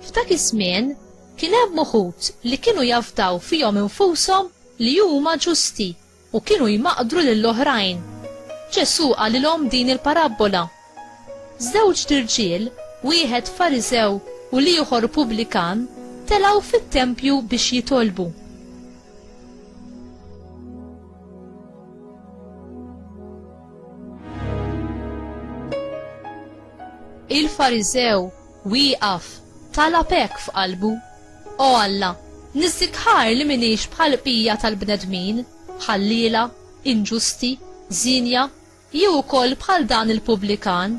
F'dak iż-żmien kien hemm uħud li kienu jafdaw fihom infushom li huma ġusti u kienu jmaqqdru lill-oħrajn. Ġesù qalilhom din il-parabbola, Żewġt irġiel, wieħed Fariżew u l-ieħor pubblikan, telgħu fit-tempju biex jitolbu. Il-Fariżew wieqaf talab hekk f'qalbu, O Alla, niżżik ħar li m'iniex bħall-bqija tal-bnedmin, ħalliela, inġusti, żienja, jew ukoll bħal dan il-pubblikan.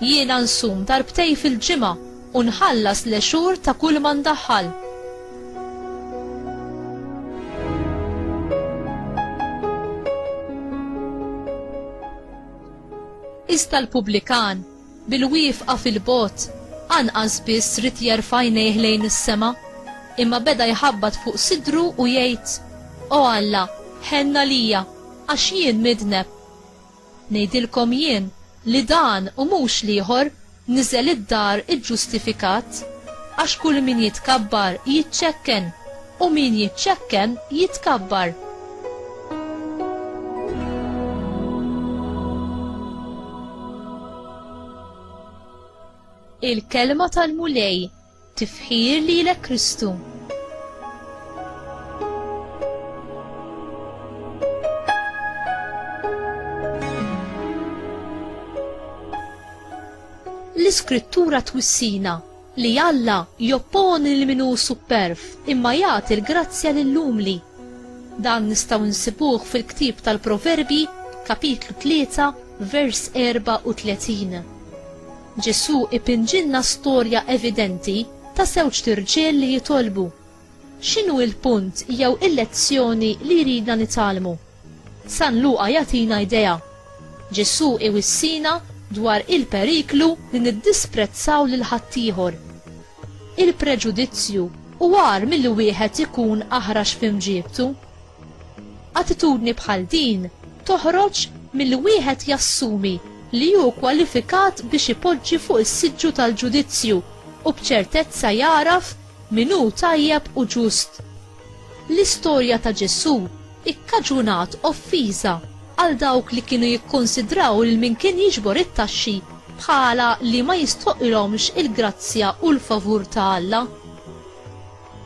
Jiena nsum darbtej fil-ġimgħa u nħallas l-għexur ta' kulma ndaħħal. Iżda l-pubblikan, Bil-wieqfa fil-bogħod, anqas biss ried jerfa' għajnejh lejn is-sema, imma beda jħabbat fuq sidru u jgħid, O Alla, ħenn għalija, għax jien midneb. Ngħidilkom jien li dan, u mhux l-ieħor, niżel id-dar iġġustifikat, għax kull min jitkabbar jiċċekken. U min jiċċekken jitkabbar. Il-kelma tal-Mulej tifħir lilek Kristu. l-iskrittura twissina Li Alla jopponi lil min hu supperv, imma jagħti l-grazzja lill-umli. Dan nistgħu nsibuh fil-ktieb tal-Proverbji, kapitlu 3, vers 34. Ġesù ipinġilna storja evidenti ta' żewġt irġiel li jitolbu, X'inhu l-punt jew il-lezzjoni li jridna nitgħallmu? San Luqa jagħtina idea. Ġesù iwissina dwar il-periklu li niddisprezzaw lil ħaddieħor. Il-preġudizzju hu agħar milli wieħed ikun aħrax f'imġiebtu. Attitudni bħal din toħroġ milli wieħed jassumi li hu kwalifikat biex ipoġġi fuq is-siġġu tal-ġudizzju u b'ċertezza jagħraf Min hu tajjeb u ġust? L-istorja ta' Ġesù ikkaġunat offiża għal dawk li kienu jikkunsidraw lil min kien jiġbor it-taxxi bħala li ma jistoqilhomx il-grazzja u l-favur ta' Alla.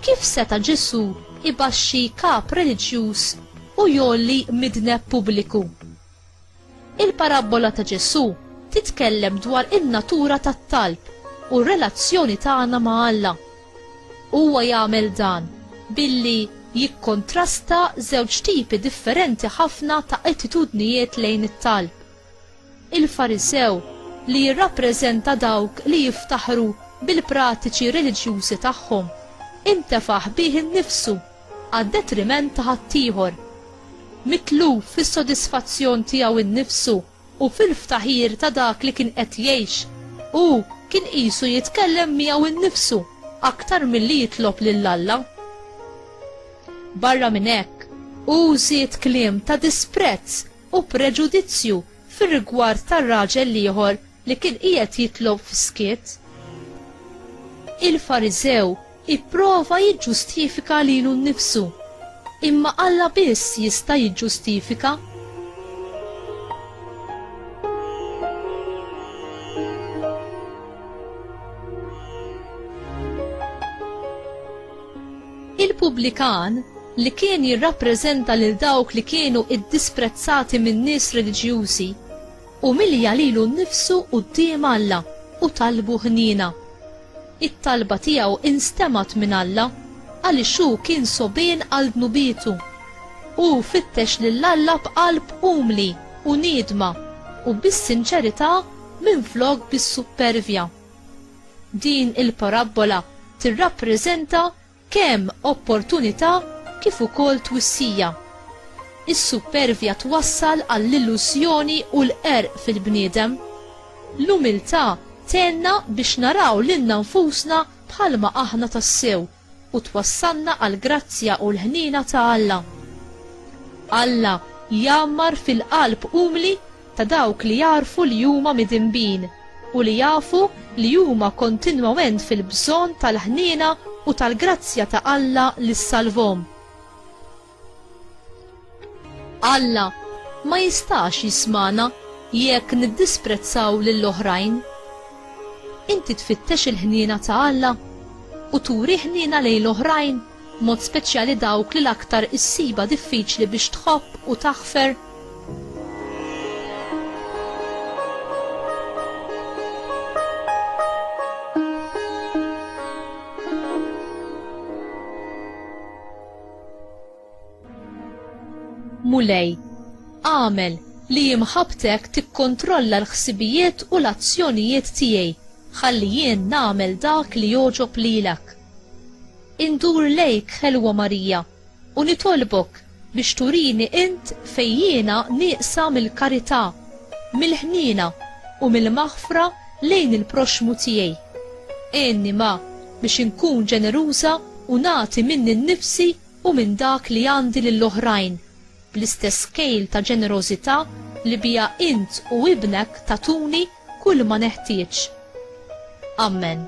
Kif seta' Ġesù jbaxxi kap reliġjuż u jgħolli midneb pubbliku? Il-parabbola ta' Ġesù titkellem dwar in-natura tat-talb u r-relazzjoni tagħna ma' Alla. Huwa jagħmel dan billi jikkontrasta żewġ tipi differenti ħafna ta' attitudnijiet lejn it-talb. Il-Farisew, li jirrappreżenta dawk li jiftaħru bil-pratiċi reliġjużi tagħhom, intefaħ bih innifsu għad-detriment ta' ħaddieħor, mitluf fis-sodisfazzjon tiegħu nnifsu u fil-ftaħir ta' dak li kien qed jgħix, hu kien qisu jitkellem miegħu nnifsu aktar milli jitlob lil Alla. Barra minn hekk, hu żied kliem ta' disprezz u preġudizzju fir-rigward tar-raġel l-ieħor li kien qiegħed jitlob f'skiet. Il-Fariżew Ipprova jiġġustifika lilu nnifsu, imma Alla biss jista' jiġġustifika. Il-pubblikan, li kien jirrappreżenta lil dawk li kienu ddisprezzati min-nies reliġjużi, umilja lilu nnifsu quddiem Alla u talbu ħniena. It-talba tiegħu instemgħet minn Alla għaliex hu kien sogħbien għal dnubietu. Hu fittex lil Alla b'qalb umli u niedma u bis-sinċerità minflok bis-suppervja. Din il-parabbola tirrappreżenta Kemm opportunità kif ukoll twissija. Is-suppervja twassal għall-illużjoni u l-qerq fil-bniedem. L-umiltà tgħinna biex naraw lilna nfusna bħalma aħna tassew u twassalna għall-grazzja u l-ħniena ta' Alla. Alla jgħammar fil-qalb umli ta' dawk li jagħrfu li huma midinbin u li jafu li huma kontinwament fil-bżonn tal-ħniena u tal-grazzja ta' Alla li ssalvhom. Alla ma jistax jismagħna jekk niddisprezzaw lil oħrajn. Inti tfittex il-ħniena ta' Alla u turi ħniena lejn l-oħrajn, mod speċjali dawk li l-aktar issibha diffiċli biex tħobb u taħfer? Mulej, għamel li imħabtek tikkontrolla l-ħsibijiet u l-azzjonijiet tiegħi, ħalli jien nagħmel dak li jogħġob lilek. Indur lejk ħelwa Marija, U nitolbok biex turini int fejn jiena nieqsa mill-karità, mill-ħniena u mill-maħfra lejn il-proxxmu tiegħi. Għinni ma biex inkun ġeneruża u nagħti minni nnifsi u minn dak li għandi lill-oħrajn, bl-istess kejl ta' ġenerożità li biha int u Ibnek tagħtuni kulma neħtieġ. Ammen.